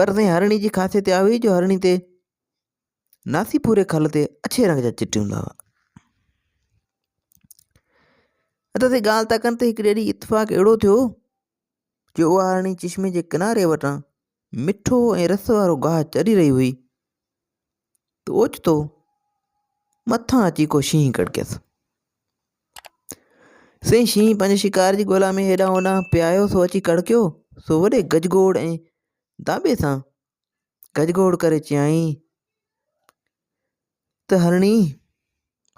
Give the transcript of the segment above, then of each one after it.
پر سائين هرڻي جي خاصيت اها هئي جو هرڻي تي ناسي پوري کل تي اڇي رنگ جا چٽ هوندا هئا ادا سائين ڳالهه تڪن تي هڪڙي ڏينهن اتفاق اهڙو ٿيو جو اها هرڻي چشمي جي ڪناري وٽان مٺو ۽ رس وارو گاهه چري رهي هئي ته اوچتو مٿان اچي ڪو شينهن ڪڙڪيس. سائين شينهن پنهنجي شڪار جي ڳولا ۾ هيڏانهن هوڏانهن پيايو سو اچي ڪڙڪيو سو وڏي گجگوڙ ۽ داٻي سان گجگوڙ ڪري چيائين ته هرڻي!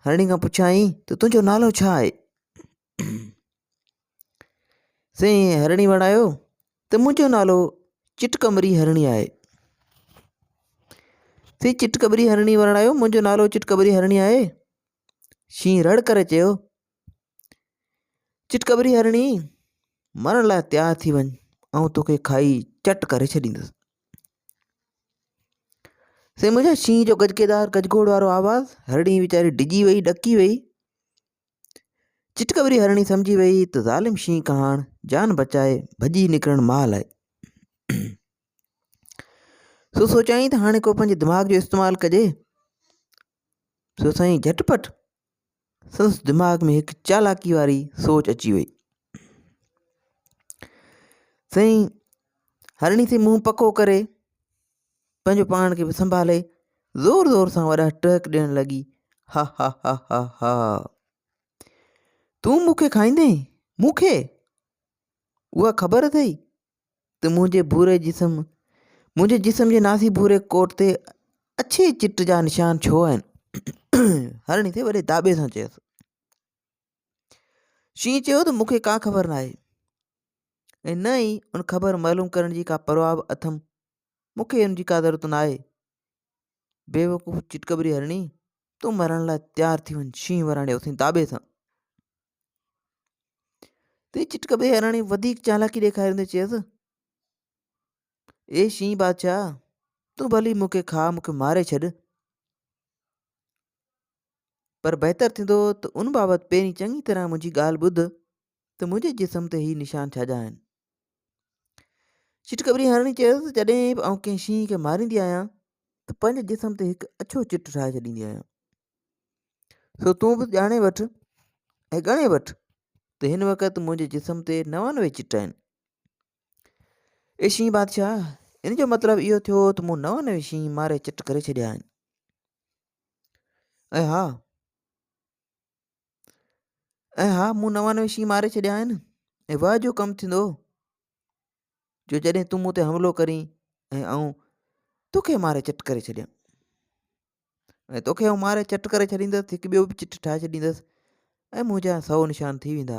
هرڻي کان پڇيائين ته تنهنجو نالو ڇا آهي؟ سائين هرڻي وڻايو ته منهنجو نالو چٽ ڪمري هرڻي آهي سائين چٽ ڪمري هرڻي وڻايو منهنجو نالو چٽ ڪمري هرڻي آهي شينهن رڙ ڪري چيو چٽ ڪمري هرڻي مرڻ لاء تيار ٿي وڃ آئون توکي کائي چٽ ڪري ڇڏيندس سائين منهنجا شينهن جو گجڪيدار گجگوڙ وارو آواز هرڻي ويچاري ڊڄي وئي ڏڪي وئي چٽڪوري هرڻي سمجهي وئي ته ظالم شينهن ڪهاڻ جان بچائي ڀڄي نڪرڻ مال آهي سو سوچيائين ته هاڻي ڪو پنهنجي دماغ جو استعمال ڪجي سو سائين جھٽ پٽ سندس دماغ ۾ هڪ چالاڪي واري سوچ اچي وئي سائين هرڻي سي منهن پڪو ڪري پنهنجو پاڻ کي به سنڀالي زور زور سان وڏا ٽهڪ ڏيڻ لڳي ها ها ها ها ها تون مون کي کائيندين مون کي اها خبر اٿئي ته منهنجي ڀوري جسم منهنجي جسم جي ناسي ڀوري ڪوٽ تي اڇي چٽ جا نشان ڇو آهن هرڻي سي وڏي داٻي سان چيس شينهن چيو ته مون کي ڪا خبر نه آهي ۽ نه ئي ان خبر معلوم ڪرڻ جي ڪا پرواهه به اٿم مون کي ان جي ڪا ضرورت نه آهي بيوقوف چٽڪبري هرڻي تون مرڻ لاء تيار ٿي وڃ شينهن وراڻي اٿي داٻي سان تي چٽڪبري هرڻي وڌيڪ چالاڪي ڏيکاريندي چيس اي شينهن بادشاهه تون ڀلي مون کي کاء مون کي ماري ڇڏ پر بهتر ٿيندو ته ان بابت پهرين چڱي طرح منهنجي ڳالهه ٻڌ ته منهنجي جسم تي هي نشان ڇا جا آهن. چٽڪبري هرڻي چيس ته جڏهن به آئون ڪنهن شينهن کي ماريندي آهيان ته پنهنجي جسم تي هڪ اڇو چٽ ٺاهي ڇڏيندي آهيان. سو تون به ڄاڻي وٺ ۽ ڳڻي وٺ ته هن وقت منهنجي جسم تي نوانوي چٽ آهن. اي شينهن بادشاهه ان جو مطلب اهو ٿيو ته مون نوانوي شينهن ماري چٽ ڪري ڇڏيا آهن. ۽ ها ۽ ها مون نوانوي شينهن ماري ڇڏيا آهن ۽ وهه جو ڪم ٿيندو جو جڏهن تون مون تي حملو ڪرين ۽ آئون توکي ماري چٽ ڪري ڇڏيان ۽ توکي آئون ماري چٽ ڪري ڇڏيندس هڪ ٻيو به چٽ ٺاهي ڇڏيندس ۽ منهنجا سو نشان ٿي ويندا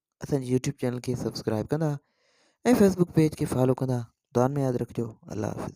اسان جي يوٽيوب چينل کي سبسڪرائب ڪندا ۽ فيسبوڪ پيج کي فالو ڪندا دعائن ۾ ياد رکجو الله حافظ